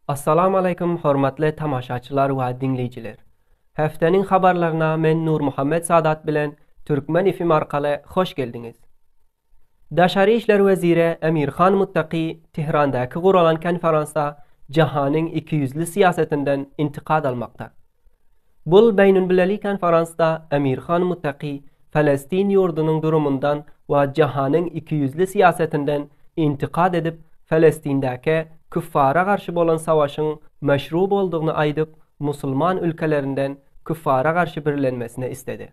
Assalamu aleykum hormatly tamaşaçylar we diňleýjiler. Häftäniň habarlaryna men Nur Muhammet Sadat bilen Türkmen FM arkaly hoş geldiňiz. Daşary işler weziri Emir Han Muttaki Tehrandäki guralan konferansda jahanyň ikiýüzli syýasetinden intikad almakda. Bul beýnülbileli konferansda Emir Han Muttaki Palestin ýurdunyň durumundan we jahanyň ikiýüzli syýasetinden intikad edip, Palestindäke küffara garşy bolan savaşyň meşru boldugyny aýdyp, musulman ülkelerinden küffara garşy birlenmesini isledi.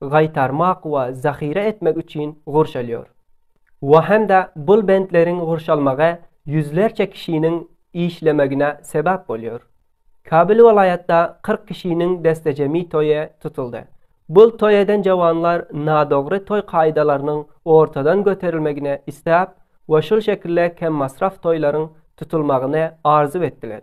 gaýtarmak we zahyra etmek üçin gurşalýar we hem-de bul bentleriň gurşalmagy ýüzlerçe kişiniň işlemegine sebäp bolýar. Kabyl welaýatda kyrk kişiniň destejemi toýy tutuldy. Bul toý eden jawanlar nadogry toý kaýdalarynyň ortadan göterilmegini isläp we şul şekilde kemmasraf toýlaryň tutulmagyny arzuw etdiler.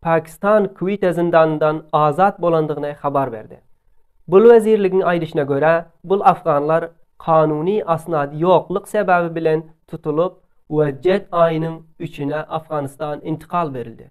Pakistan Kwite zyndanyndan azat bolandygyny habar berdi. Bul wezirligiň aýdyşyna görä, bul afganlar kanuny asnady ýoklyk sebäbi bilen tutulyp we jet aýynyň üçine Afganistan intikal berildi.